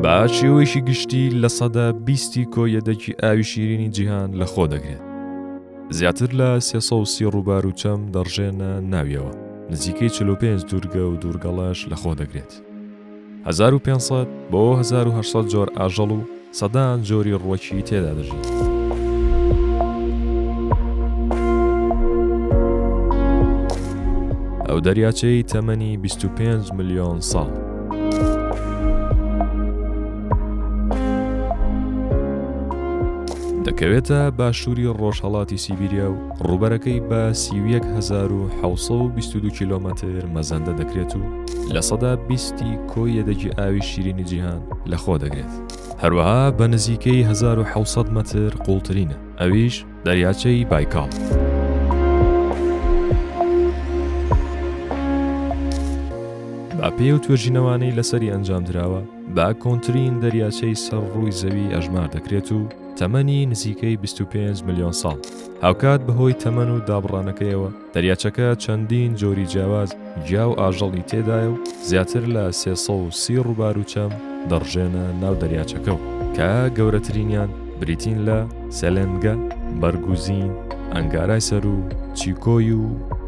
با شێوەیەکی گشتی لە سەدا بیستی کۆیەدەکی ئاوی شیرینی جیهان لە خۆ دەگرێت زیاتر لە سێسە و سی ڕووبار و چەم دەڕژێنە ناویەوە نزیکەی 45 دوورگە و دوورگەڵاش لە خۆ دەگرێت 1500 بۆ 1970 جۆر ئاژەڵ و سەدان جۆری ڕوەکی تێدا دەژین. ئەو دەریاچەی تەمەنی 25 میلیۆن ساڵ دەکەوێتە باشووری ڕۆژهڵاتی سیبیریا و ڕوبەرەکەی بە سی1920 کیلومتر مەزەندە دەکرێت و لە سەدا بیستی کۆی یەدەگی ئاوی شیرینی جیهان لەخۆ دەگرێت هەروەها بە نزیکەی 1970 متر قوڵترینە ئەویش دەریاچەی بایکاڵ. بە پێی ئەو توێژینەوانەی لەسەری ئەنجامدراوە، بە کۆنترین دەریاچەی سەر ڕووی زەوی ئەژمار دەکرێت و تەمەنی نزیکەی 25 ملیۆن ساڵ، هاوکات بەهۆی تەمەن و دابڕانەکەیەوە، دەریاچەکە چەندین جۆری جیاواز گیا و ئاژەڵی تێدایە و زیاتر لە سێ سەد و سی ڕووبار و چەم دەڕژێنە ناو دەریاچەکەوە کە گەورەترینیان بریتین لە، سەلەنگە، بەرگوزین، ئەنگارای سەروو، چیکۆی و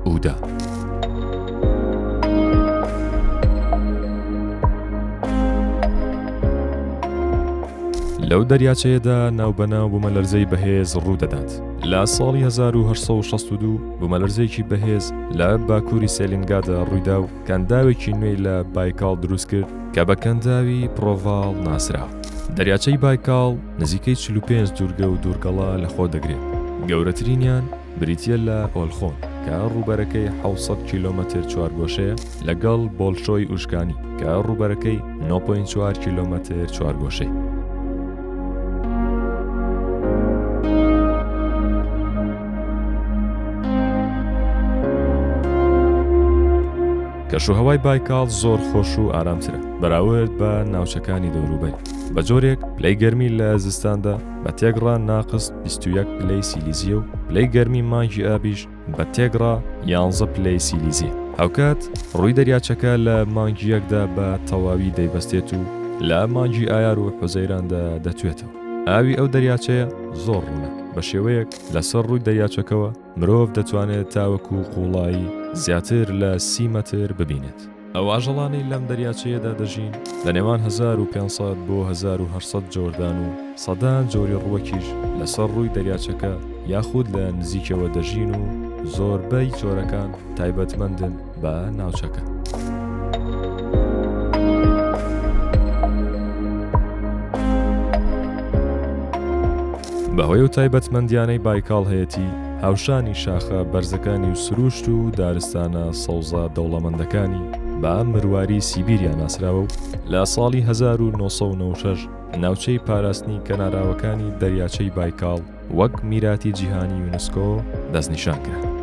ئودا. لەو دەریاچەیەدا ناوبەناو بوومەلەرزەی بەهێز ڕوو دەدات لە ساڵی 1962 بوومەلەرزەیەکی بەهێز لە باکووری سێلینگادا ڕوویدا و کەنداوێکی نوێی لە بایکاڵ دروست کرد کە بە کەنداوی پرۆڤاڵ ناسرا. دەریاچەی بایکاڵ نزیکەی 45 دوورگە و دوورگەڵە لەخۆ دەگرێت، گەورەترینیان بریتییە لە ئۆلخۆن کە ڕووبەرەکەی 700 کیلۆمەتر چوارگۆشەیە، لەگەڵ بۆلشۆی ئوشکانی کە ڕووبەرەکەی 9.4 کیلۆمەتر چوارگۆشەی. کەشوهوای بایکاڵ زۆر خۆش و ئارامترە بەراورد بە ناوچەکانی دەوروبەر بە جۆرێک پلەی گەرمی لە زستاندا بە تێکڕان ناقست 21 پلەی سیلیزیە و پلەی گەرمی مانگی ئابیش بە تێگڕا یانزە پلەی سیلیزی. هاوکات ڕووی دەریاچەکە لە مانگی یەکدا بە تەواوی دەیبەستێت و لە مانگی ئایار و حوزەیراندا دەتوێتەوە. ئاوی ئەو دەریاچەیە زۆر ڕوونە، بە شێوەیەک لەسەر ڕووی دەریاچەکەوە مرۆڤ دەتوانێت تاوەکو قووڵایی زیاتر لە سی مەتر ببینێت. ئەو ئاژەڵانەی لەم دەریاچەیەدا دەژین لە نێوان هەزار و پێنج سەد بۆ هەزار و هەشت سەد جۆردان و سەدان جۆری ڕووەکیش لەسەر ڕووی دەریاچەکە یاخود لە نزیکیەوە دەژین و زۆربەی جۆرەکان تایبەتمەندن بە ناوچەکە. بەهۆی ئەو تایبەتمەندیانەی بایکاڵ هەیەتی، هاوشانی شاخە بەرزەکانی و سرووشت و دارستانە سەوزە دەوڵەمەندەکانی بە مرواری سیبیریا ناسراوە و لە ساڵی 1996 ناوچەی پاراستنی کەناراوەکانی دەریاچەی بایکاڵ وەک میراتی جیهانی یونسکۆ دەستنیشان کرا.